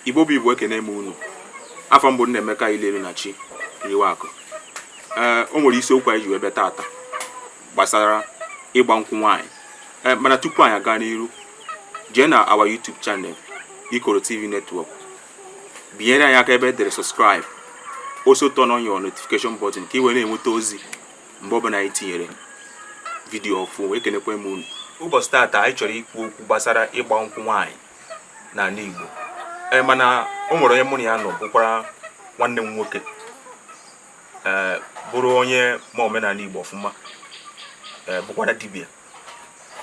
igbo bụ igbo ekene m unu afa m bụ nnaemeka ileru na chi riwe akụ ee o nwere isiokwu anyị ji wee bịa tata gbasara ịgba nkwụ nwaanyị ee mana tupu anyị aga n'iru jee na our YouTube channel ikoro tv network binyere anyị aka ebe e dere subscribe also turn on your notification button ka ị wee na-enweta ozi mgbe ọbụla anyị tinyere vidiyo ọfụ ekenekwa m unu ụbọchị taata anyị chọrọ ikwu okwu gbasara ịgba nkwụ nwaanyị n'ala Igbo ee mana o nwere onye mụ na ya nọ bụkwara nwanne m nwoke ee bụrụ onye ma omenala Igbo ọfụma ee bụkwara dibia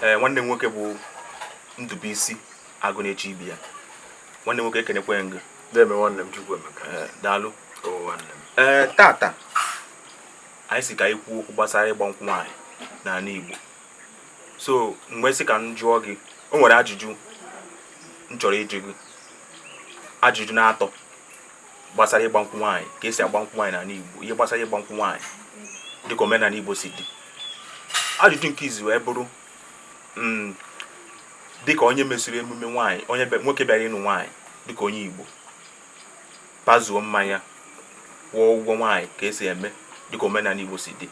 ee nwanne m nwoke bụ Ndubuisi Agụ na-eche ibe ya nwanne m nwoke ekenekwe m gị deme nwanne m chukwu emeka eh, daalụ ee eh, tata anyị sị ka anyị kwuo okwu gbasara ịgba nkwụ nwaanyị n'ala igbo so m wee sị ka m jụọ gị o nwere ajụjụ m chọrọ ịjụ gị ajụjụ n'atọ gbasara ịgba nkwụ nwaanyị ka esi agba nkwụ nwaanyị n'ala igbo ihe gbasara ịgba nkwụ nwaanyị dịka omenala igbo si dị ajụjụ nke izizi wee bụrụ mm, dịka onye mesịrị emume nwaanyị onye nwoke bịara ịnụ nwaanyị dịka onye Igbo pazuo mmanya kwụọ ụgwọ nwaanyị ka esi eme dịka omenala Igbo si dị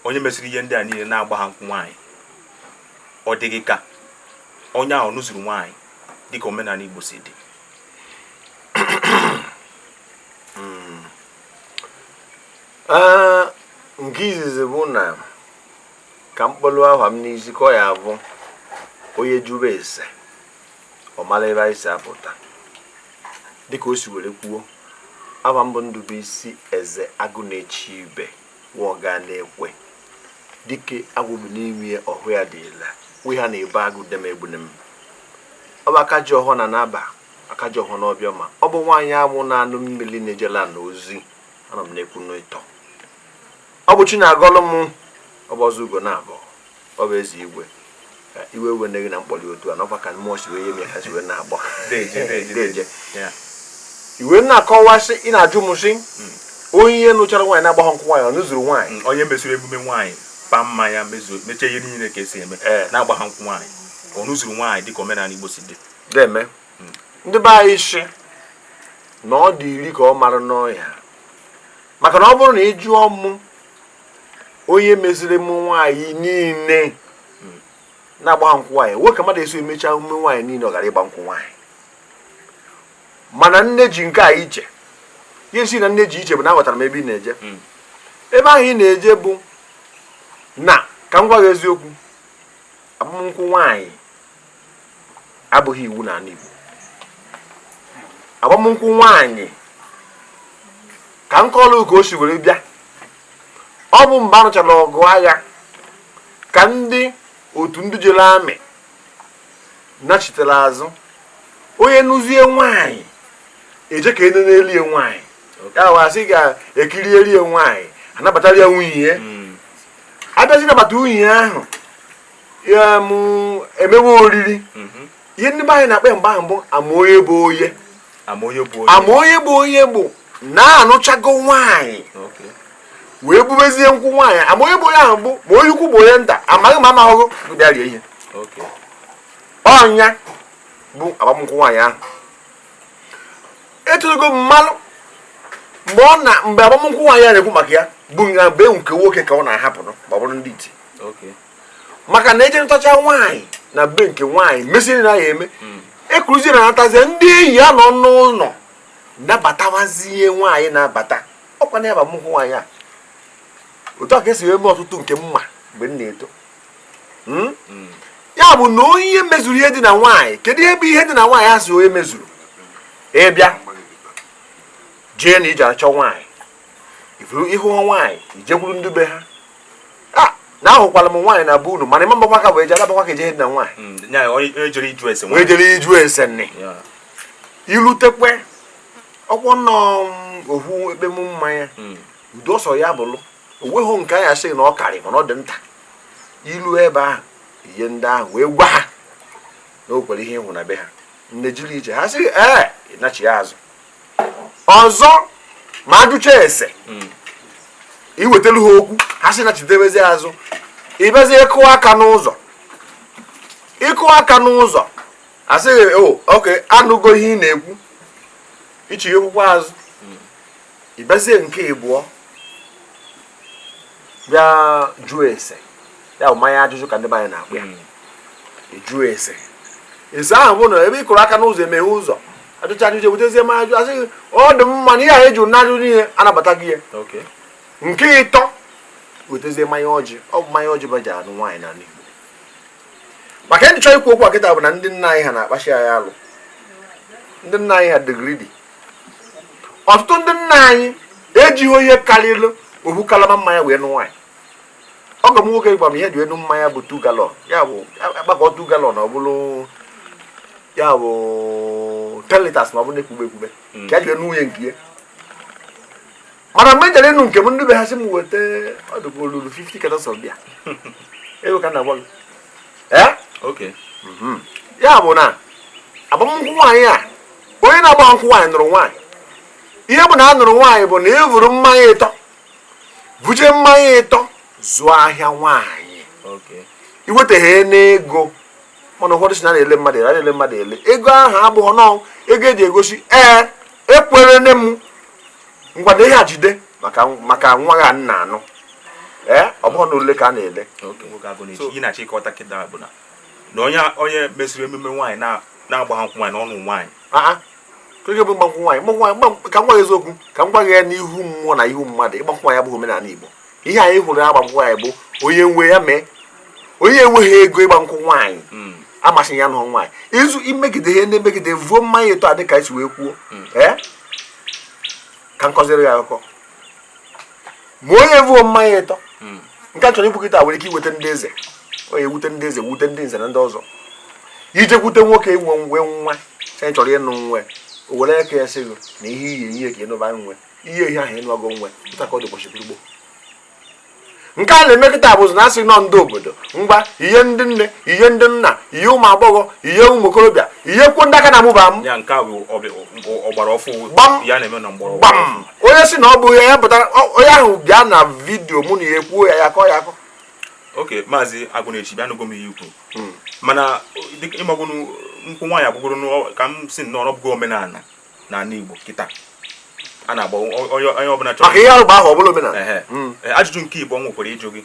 onye mesịrị ihe ndị a niile na-agbaha nkwụ nwaanyị ọ dị gị ka onye ahụ nụzuru nwaanyị dịka omenala Igbo si dị ah, nke izizi bụ na ka m kpọlụ aha m n'isi ka ọ ya abụ onye jụrụ ese ọ mara ebe anyị si apụta dịka o si were kwuo aha m bụ Ndubuisi Eze Agụ na-eche ibe wọga na-ekwe dike agwụ bụ n'ime ya ọhọ ya dị ile we ha na-ebe agụ dem egbune m ọ bụ aka ji ọhọ na naba aka ji ọhọ n'ọbịa ma ọ bụ nwaanyị amụ na anụ mmiri na-ejela na ozi ana m na-ekwu n'ịtọ ọ bụ chi na-agọlụ m ọ bụ ọzọ ugo na-abụ ọ bụ eze igwe ka iwe we nne gị na mkpọli otu a n'ọkwa ka mmụọ si wee ihe mee ha si wee na-agba deje i wee na-akọwasị ị na-ajụ m sị hmm. onye ihe nụchara nwaanyị na-agbaghọ nkwụ nwaanyị ọ nụzuru nwaanyị hmm, onye mesịrị emume nwaanyị pa mmanya mezuo mechie ihe niile ka esi eme eh. na-agbaha nkwụ nwaanyị ọ nụzuru nwaanyị dịka omenala Igbo si dị deme hmm. ndị be anyị sị na ọ dị iri ka ọ mara n'ọhịa maka na ọ bụrụ na ị jụọ mụ onye meziri emume nwaanyị niile na-agbaghị nkwụ nwaanyị nwee ka mmadụ esi emecha emume nwaanyị niile ọ ghara ịgba nkwụ nwaanyị mana m na-eji nke a iche ihe sị na m na-eji iche bụ na aghọtara m ebe ị na-eje hmm. ebe ahụ ị na-eje bụ na ka m gwa gị eziokwu agbamnkwụ nwaanyị abụghị iwu na ala Igbo agbamnkwụ nwaanyị ka m kọọlụ ka o si were bịa ọ bụ mgbe a nụchara ọgụ agha ka ndị otu ndị jere army nachitere azụ onye nụzie nwaanyị e jee ka e nee n'elie nwaanyị ya wasị ga-ekiri elie nwaanyị a nabatara ya nwunye ya hmm. a bịazie nabata nwunye ahụ e mewe oriri mhm. ihe ndị be anyị na-akpọ mgbe ahụ bụ ama onye bụ onye ama onye bụ onye bụ na a nụchago nwaanyị wee bubezie nkwụ nwaanyị ama onye bụ onye ahụ bụ ma onye ukwu bụ onye nta amaghị ma amaghị bịa rie ihe ọ ya bụ agbamnkwụ nwaanyị ahụ etologo m malụ mgbe ọ na mgbe agbamnkwụ nwaanyị a na-ekwu maka ya bụ na be nke nwoke ka ọ na-ahapụrụ ma ọ bụrụ ndị iti maka na e jee nụchaa nwaanyị na be nke nwaanyị mesiri na ya eme hmm. e kuruzie ya natazie ndị enyi ya nọ n'ụlọ nabatawazie nwaanyị na-abata ọkwa na ya bụ agbamnkwụ nwaanyị a otu a ka e si eme ọtụtụ nke m ma mgbe m na-eto hmm? Hmm. ya bụ na onye mezuru ihe dị na nwaanyị kedu ihe bụ ihe dị na nwaanyị a sị onye mezuru ị bịa jee na ị je achọ nwaanyị ị fụrụ ị hụ nwaanyị i jekwuru ndị be ha na ahụkwala m nwaanyị na be unu mana ị ma mbakwa ka wee jee alabakwa ka e je ihe dị na nwaanyị hmm, onye jere ịjụ ese nne ilutekwe ọkwọ nnọọ mm, ohu ekpem mmanya hmm. udo ọ sọ ya bụlụ o nweghị nke anyị sị na ọ karị mana ọ dị nta i lu ebe ahụ ihe ndị ahụ wee gwa ha na o kwere ihe ị hụ na be ha nne jiri ije ha sị ee ị nachie azụ ọzọ ma a jụcha ese hmm. i wetara ha okwu ha sị nachitebezie azụ ị bịazie ịkụ aka n'ụzọ ịkụ aka n'ụzọ a sị gị o oh, okay a nụgo ihe ị na-ekwu ị chighakwuo azụ hmm. ị bịazie nke ịbụọ bịa jụọ ese ya bụ mmanya ajụjụ ka ndị be anyị na-akpọ ya ịjụ hmm. ese ese ahụ bụ na ebe ị kụrụ aka n'ụzọ e meghe ụzọ a jụcha ajụjụ e butezie mmanya ajụjụ a sị ọ dị mma na ihe a e ji na-ajụ niile a nabata gị ya nke ịtọ wetezie mmanya ọjị ọ bụ mmanya ọjị ba ji anụ nwaanyị n'ala Igbo maka m ji chọọ ikwu okwu a kịta bụ na ndị nna anyị ha na-akpachi anyị alụ ndị nna anyị ha dị greedy ọtụtụ ndị nna anyị ejighị ihe karịrị ohu kalama mmanya wee nụ nwaanyị ọgọ m nwoke gwa m ihe e ji wee nụ mmanya bụ two gallon ya bụ a gbakọọ two gallon ọ bụrụ ya bụ ten litres na ọ bụrụ na-ekwube ekwube hmm. ka ya ji wee nụ nwunye nke ya mana mgbe m jere ịnụ nke m ndị be ha sị m weta ọdụkwa olulu 50 cartons of beer ego ka m na-agwa gị ee eh? mhm. ya bụ na agbamnkwụ nwaanyị a onye na-agbaghị nkwụ nwaanyị nụrụ nwaanyị ihe bụ na a nụrụ nwaanyị bụ na e vuru mmanya ịtọ vuje mmanya ịtọ zụọ ahịa nwaanyị Okay. iweteghe n'ego mana ụfọdụ sị na a na-ele mmadụ ele a na-ele mmadụ ele ego ahụ abụghị nọ ego eji egosi ee ekwere nne m ngwanụ ihe a jide maka maka nwa gị a m na-anụ ee ọ bụghị na ole ka a na-ele Okay. Nwoke Agụnechi. Ihe m na-achọ ịghọta kịta bụ na na onye onye mesịrị emume nwaanyị na- na-agbaghị nkwụ nwaanyị na ọ nụ nwaanyị aa keke bụ ịgbankwụ nwaanyị ịgbankwụ nwaanyị ịgbankwụ- ka m gwa gị eziokwu ka m gwa gị ya n'ihu mmụọ na ihu mmadụ ịgbankwụ nwaanyị abụghị omenala Igbo ihe anyị hụrụ ya ịgbankwụ nwaanyị bụ onye nwe ya mee onye enweghị ego ịgba nkwụ nwaanyị amasịghị ya nụọ nwaanyị izu imegide ihe ndị megide vuo mmanya ịtọ a dịka esi wee kwuo ee ka m kọziere gị akụkọ ma onye vuo mmanya ịtọ hmm. nke a m chọrọ ikwu kịta nwere ike iwute ndị eze ọ ya-ewute ndị eze wute ndị nze na ndị ọzọ i jekwute nwoke nwe nwe nwaanyị ị chọrọ ịnụ nwa ya o were aka ya sị gị na ihe ị ya-enye ka ị nụba nwa ya i nye ihe ahụ ị nụago nwa ya etu a ka ọ dị ụbọchị gboo gboo nke a na-eme kịta bụzi na a sị na ọ ndị obodo ngwa ihe ndị nne ihe ndị nna ihe ụmụ agbọghọ ihe ụmụ okorobịa ihe ikwu ndị a ka na-amụba m gbam onye sị na ọ bụ ya pụtara onye ahụ bịa na video mụ na ya ekwuo ya ya kọ ya akọ okay maazị Agụnechi bịa anụgo m ihe i kwu hmm. mana ị magonụ nkwụ nwaanyị abụgoro ka m sị na ọ bụrụgo omenala n'ala Igbo kịta a na-agba onye ọbụla chọrọ maka ihe arụ gbaa ahọ ọ bụrụ omenala hmm. ajụjụ nke ịbụọ m nwekwara ịjụ gị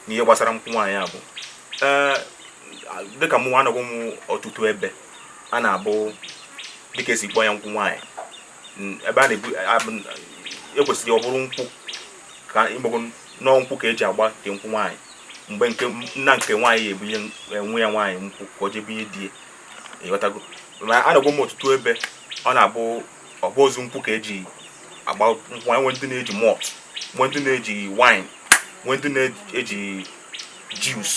n'ihe gbasara nkwụ nwaanyị a bụ dịka mụ anọgo m ọtụtụ ebe a na-abụ dịka esi kpọọ ya nkwụ nwaanyị ebe a na-ebu ekwesịrị ọ bụrụ nkwụ ka ị magonụ ọ nkwụ ka eji agba nke nkwụ nwaanyị mgbe nke nna nke nwaanyị ya-ebunye nwa ya nwaanyị nkwụ ka o jee bunye di ị ghọtago na anọgwo m ọtụtụ ebe ọ na-abụghịzi nkwụ ka eji agba nkwụ e nwee ndị na-eji malt nwe ndị na-eji wine nwe ndị na-eji juice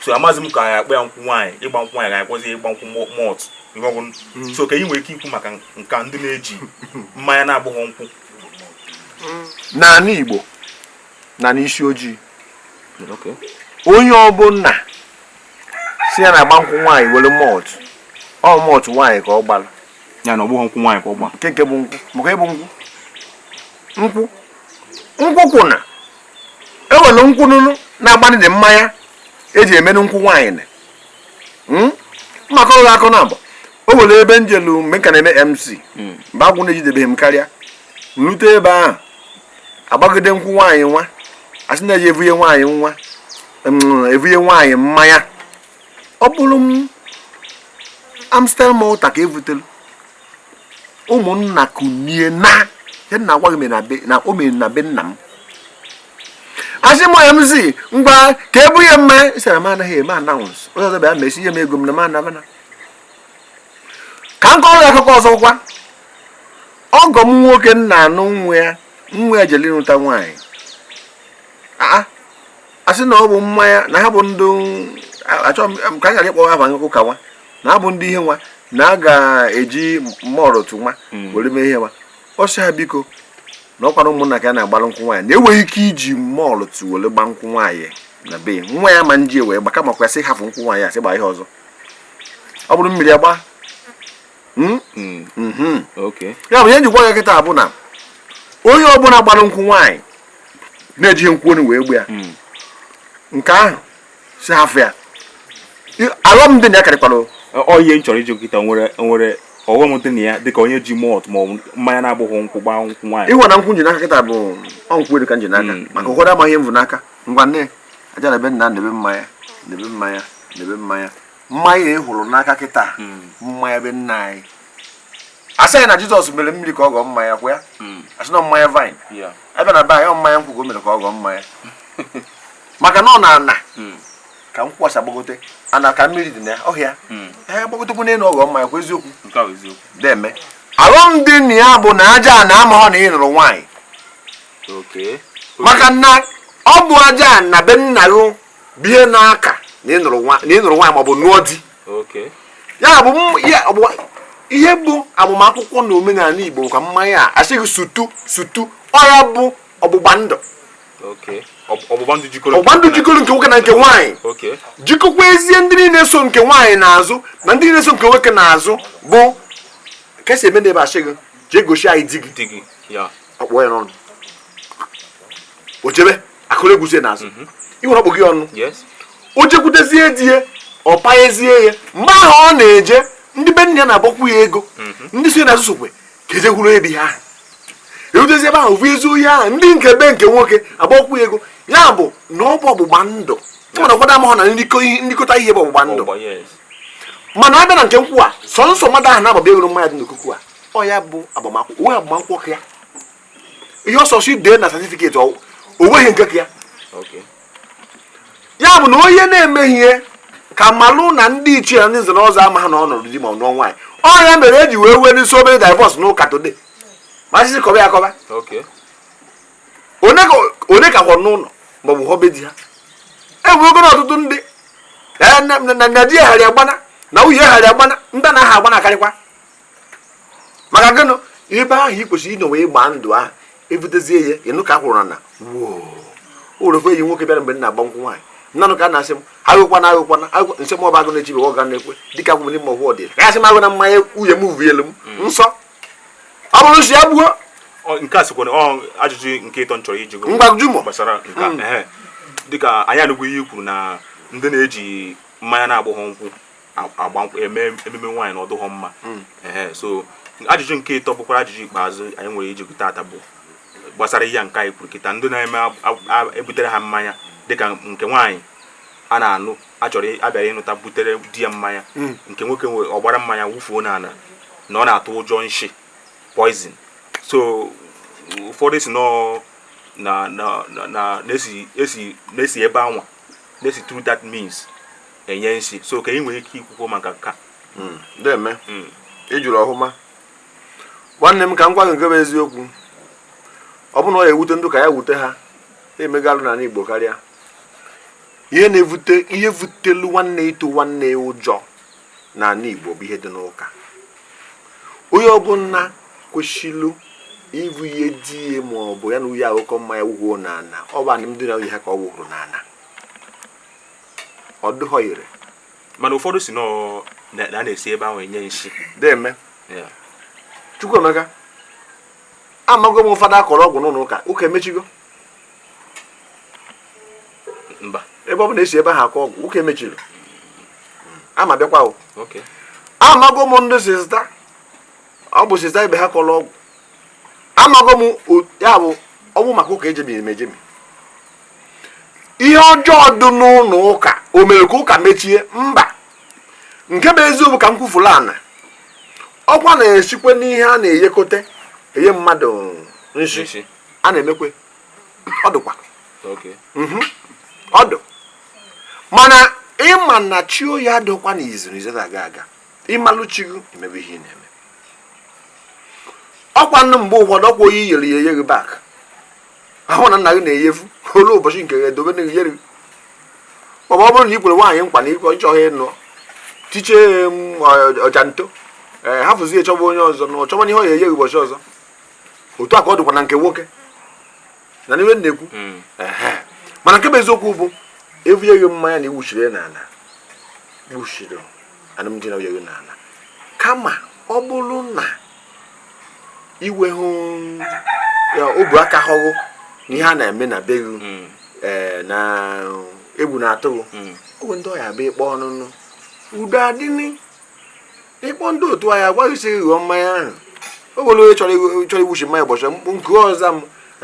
so amaghịzi m ka a ya-akpọ ya nkwụ nwaanyị ịgba nkwụ nwaanyị ga-akpọzi ịgba nkwụ malt ihe ọgwụ mm. so kee ihe ị nwere ike ikwu maka nke a ndị na-eji mmanya na-abụghị nkwụ n'ala Igbo na n'isi ojii onye ọbụla sị ya na-agba nkwụ nwaanyị were malt ọ malt nwaanyị ka ọ gbara ya na ọ bụghọ nkwụ nwaanyị ka ọ gba nke nke bụ nkwụ maka ịbụ nkwụ nkwụ nkwụ kwụ na ewere nkwụ nụnụ na-agbanị dị mmanya eji emenụ nkwụ nwaanyị na hmm? maka ọrụ akọ na abụ o nwere ebe m jelu mgbe m ka na-eme mc hmm. mgbe agwụ na-ejidebeghị m karịa rute ebe ahụ agbagide nkwụ nwaanyị nwa asị na eje evunye nwaanyị nwa evunye nwaanyị mmanya ọ bụrụ amstel malta ka evutelu ụmụnna kunie na ihe m na-agwa gị na o mere na be nna m asị m mc ngwa ka ebunye mmanya asị m anaghị eme announce onye ọzọ bịa mesie nye m ego m na m anabana ka m kọrọ ya akụkọ ọzọ kwa ọgọ m nwoke na-anụ nwa ya nwa ya jere ịnụta nwaanyị asị na ọ bụ mmanya na ha bụ ndị chọọchị ka a ghara ịkpọwa aha ụka nwa na ha bụ ndị ihe nwa na a ga-eji mọrọtụ nwa hmm. were mee ihe nwa ọ sị ha biko na ọkwara ụmụnna ka a na-agbara nkwụ nwaanyị na enweghị ike iji mọlụtụ were gba nkwụ nwaanyị na be nwa ya ma nji wee gba kama kwa sị hafụ nkwụ nwaanyị asị gba ihe ọzọ ọ bụrụ mmiri agba Hmm? Hmm. Hmm. ya bụ ihe m ji ekwu ya kịta bụ na onye ọbụla gbara nkwụ nwaanyị na-ejighị nkwụ enu wee gba ya nke ahụ si hafụ ya aghọm dị na ya karịkwara oyi m chọrọ ịjụ kịta nwere nwere ọghọm dị na ya dịka onye ji malt ma mmanya na-abụghị nkwụ gbaa nkwụ nwaanyị ịhụ na nkwụ m ji n'aka kịta bụ ọ nkwụ elu ka m ji n'aka mm, maka mm. ụfọdụ amaghị m vu n'aka ngwa nne aja ana be nna na mmanya na mmanya na mmanya mmanya ị hụrụ n'aka kịta mmanya be nna anyị asị anyị na jizọs mere mmiri ka ọ ghọọ mmanya kwa ya asị na mmanya vine a bịa na be anyị ọ mmanya nkwụ ka o mere ka ọ ghọọ mmanya maka na ọ n'ana ka nkwụ kwasa gbagote ana ka mmiri dị na ya o si ya ee gbagotekwu n'elu ọ ghọọ mmanya kwa eziokwu deme aghọm dị na ya bụ na aja ana amaghọ na ị nụrụ nwaanyị maka na ọ bụ aja ana be nna gị bie n'aka na ị nụrụ nwaanyị maọbụ nụọ di ya bụ ihe bụ agbamakwụkwọ na omenala Igbo ka mmanya a asị gị sụtụ sụtụ ọ ya bụ ọgbụgba ndụ ọgbụgba ndụ jikọrọ nke nwoke na nke nwaanyị jikọkwazie ndị niile so nke nwaanyị n'azụ na ndị niile so nke nwoke n'azụ bụ ka esi eme na ebe asị gị jee gosi anyị di gị ọ kpọ ya n'ọnụ o jebe a kụrụ egwuzie n'azụ mhm. iwe ọkpọ gị ọnụ o jekwutezie di ya ọ payezie ya mgbe ahụ ọ na-eje ndị be nne ya na-agbakwu ya ego mhm. ndị so ya n'azụ sokwe ka eje hụrụ ebe ha erutezi ebe ahụ vuyezie ihe ahụ ndị nke be nke nwoke agbakwu ya ego ya bụ na ọ bụ ọgbụgba ndụ mana ụfọdụ amahụ na nrikọta ihe bụ ọgbụgba ndụ mana ọ bịa na nke nkwụ a sọsọ mmadụ ahụ na-agbaba ego mmanya dị n'okuku a ọ ya bụ agbamakwụkwọ o nwe agbamakwụkwọ ka ya ihe ọsọsọ i dee na satifiketi o nweghị nke ka ya ya bụ na onye na-emeghị ihe ka malụ na ndị ichie na ndị nze na ọzọ amaha na ọ nụrụ di ma ọ nụọ nwaanyị ọ ya mere e ji wee nwee n'isi obere divorce n'ụka today ma sisi kọba ya kọba onye ka kwọ n'ụlọ ma ọ bụ họbe di ha enwego na ọtụtụ ndị na di eghara agbana na nwunye eghara agbana ndị na aha agbana akarịkwa maka gịnụ ebe ahụ ị kwesịrị ịnọ wee gbaa ndụ ahụ ebutezie ya ịnụ ka a kwụrụ na ụlọfe enyi nwoke bịara mgbe m na-agba nkwụ nwaanyị m na-anụ ka a na-asị m aṅụkwana aṅụkwana m sị m ọba agụ na-echibe ọ ga na-ekwe dịka agwụ n'ime ọgwụ ọdịda ka a sị m aṅụna mmanya nwunye m vuyelu m hmm. m sị ọ bụrụ nsi ya gbuo nke a sokwa n'ajụjụ nke ịtọ m chọrọ ịjụ gụ ngwa jụ m gbasara nke hmm. dịka anyị anụgwu ihe i kwuru na ndị na-eji mmanya na-abụghọ nkwụ agba nkwụ eme ememe nwaanyị na ọ dụghọ mma hmm. ee so ajụjụ nke ịtọ bụkwara ajụjụ ikpeazụ anyị nwere ịjụ gụ taata bụ gbasara ihe nke anyị kwuru kịta ndị na-eme e butere ha mmanya dịka nke nwaanyị a na-anụ a chọrọ a bịara ịnụta butere di ya mmanya hmm. nke nwoke nwe ọgbara mmanya wufuo n'ala na ọ na-atụ ụjọ nshi poison so ụfọdụ sị nọọ na na na na na-esi esi na-esi ebe anwa na-esi through that means enye nsi so ka ị nwere ike ikwukwo maka nka hmm, deme hmm. ị jụrụ ọhụma nwanne m ka m gwa gị nke bụ eziokwu ọ bụ na ọ ya-ewute ndị ụka ya wute ha emegalụ n'ala Igbo karịa ihe na-evute ihe vutelu nwanne ịtụ nwanne ụjọ n'ala Igbo bụ ihe dị n'ụka onye ọbụla kwesịrị ivuye di ya ma ọ bụ ya na nwunye aṅụkọ mmanya wuhuo n'ala ọ bụ anụmdi na nwunye ha ka ọ wụrụ n'ala ọ dịghọ ire mana ụfọdụ sị nọ na na a na-esi ebe ahụ enye nshi deme Yeah. Chukwuemeka amago m fada a kọrọ ọgwụ n'ụlọ ụka ụka emechigo mba ebe ọ bụ na e si ebe ahụ akọ ọgwụ ụka emechiri ama bịakwa o okay amago m ndị sista ọ bụ sista ibe ha kọrọ ọgwụ amago m o- ya bụ ọ bụ maka ụka ejebi emejebi ihe ọjọọ dị n'ụlọ ụka o mere ka ụka mechie mba nke bụ eziokwu ka m kwufuru ana ọkwa na-esikwe n'ihe a na-eyekọta enye mmadụ nshi Nshi. a na-emekwe ọ dịkwa Okay. Mhm. ọ dụ mana ị ma na chi onye adịkwa na izu na izu na-aga aga ị malụ chi gị emebe ihe ị na-eme ọkwa nụ mgbe ụfọdụ ọkwa onye yere ya eyeghi bak ahụ na nna gị na-eyefu olu ụbọchị nke gị edobe n'ihu yeri ma ọ bụrụ na ị kwere nwaanyị nkwa na ịkọ ị chọghị ịnụ tiche ọja nto ee hafụzie chọba onye ọzọ na ọ chọba ihe ọ ya-enye gị ụbọchị ọzọ otu a ka ọ dịkwa na nke nwoke na n'ihe na-ekwu hmm. mana nke bụ eziokwu bụ e vunye gị mmanya na i wuchiri ya n'ala gbuchiri alụmdi na nwunye gị n'ala kama ọ bụrụ na i wee hụ obu aka hụghụ na ihe a na-eme na be gị hmm. eh, na egwu na-atụ gị hmm. owe ndị ọya bụ ịkpọ ọnụnụ udo adịnị ịkpọ ndị otu anyị agwaghị si ghọọ mmanya ahụ o nwere onye chọrọ chọrọ iwuchi mmanya ụbọchị mkpụ nke ọzọ m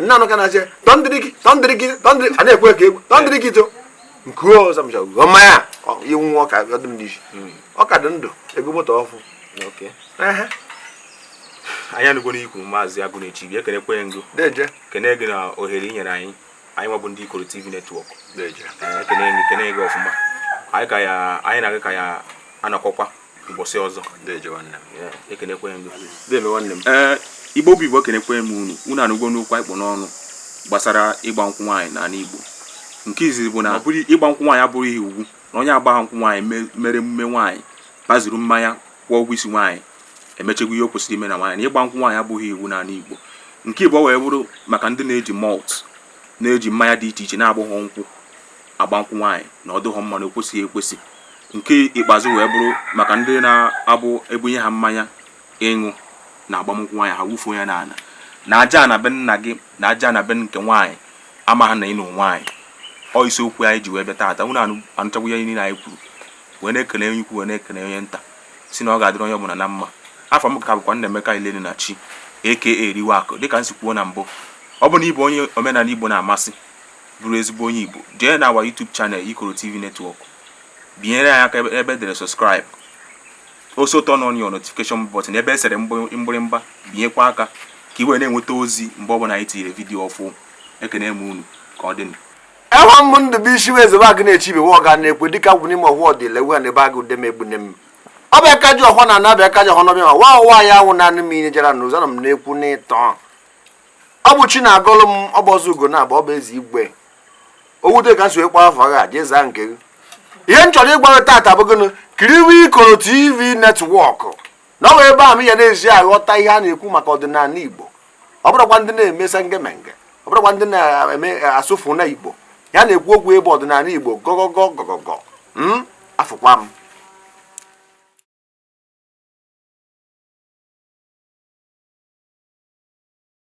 na-anụ ka na-asị tọndịrị gị tọndịrị gị tọndịrị a na-ekwe ka egwu tọndịrị gị to nke ọzọ m chọrọ mmanya iwu nwa ọka ọ dị m n'isi hmm. ọ ka dị ndụ ego moto ọfụ anyị anụgo n'ikwu maazị Agụnechiibe ekenekwe m gị kene gị na ohere i nyere anyị anyị nwa bụ ndị ikoro tv network ekene gị kene gị ọfụma anyị na-aga ka anyị nọkọkwa ụbọchị ọzọ ee igbo bụ igbo kenekwe m unu unu anụgo n'okwu anyị kpụ n'ọnụ gbasara ịgba nkwụ nwaanyị n'ala igbo nke izizi bụ na ịgba nkwụ nwaanyị abụghị iwu na onye agbaghị nkwụ nwaanyị mere emume nwaanyị kpazuru mmanya kwụọ ụgwọ isi nwaanyị emechagwo ihe o kwesịrị ime na nwaanyị na ịgba nkwụ nwaanyị abụghị iwu n'ala igbo nke ịbụọ wee bụrụ maka ndị na-eji malt na-eji mmanya dị iche iche na-abụghọ nkwụ agba nkwụ nwaanyị na ọ dịghọ mma na o kwesịghị ekwesị nke ikpeazụ wee bụrụ maka ndị na-abụ e bunye ha mmanya ịṅụ na agbamnkwụ nwaanyị ha wufuo ya n'ala na aja ana be nna gị na aja ana be nke nwaanyị amaghị na ị nụ nwaanyị ọ isi okwu anyị ji wee bịa taata unu anụchagwo ihe niile anyị kwuru wee na-ekele onye ukwu wee na-ekele onye nta sị na ọ ga-adịrị onye ọbụla na mma afa m ka bụkwa Nnaemeka Ilenu na chi aka eriwe akụ dịka m si kwuo na mbụ ọ bụ na ị bụ onye omenala Igbo na-amasị bụrụ ezigbo onye Igbo jee na our YouTube channel Ikoro TV Network binyere anyị aka ebe e dere subscribe also turn on your notification button ebe e sere mgbịrịmgba binyekwa aka ka i wee na-enweta ozi mgbe ọbụla anyị tinyere vidiyo ọfụ ekene m unu ka ọ dịnụ aha m bụ Ndụbụisi wee zebe Agụnechiibe ọga na-ekwe dịka gwụ n'ime ọhụụ ọdịla ewu na ebe agụ dem egbune m ọ bụ aka ji ọhụụ na anabịa aka ji ọhụụ n'ọbịa ma wa ụwa ya anwụ naanị m inye jara na ụzọ na m na-ekwu n'ịtọ ọ bụ chi na-agọlụ m ọ bụ ọzọ ugonabọ ọ bụ eze igwe owute ka m si kpọọ afa ha jee zaa nke gị ihe m chọrọ ịgwa gị tata bụ gịnị kiriwe ikoro tv netwọkụ na ọ bụ ebe a m ya na-ezi aghọta ihe a na-ekwu maka ọdịnala igbo ọ bụrụkwa ndị na-eme sengemenge ọ bụrụkwa ndị na-eme asụfụ na igbo ihe a na-ekwu okwu bụ ọdịnala igbo gọgọgọ gọgọgọ m afụkwa m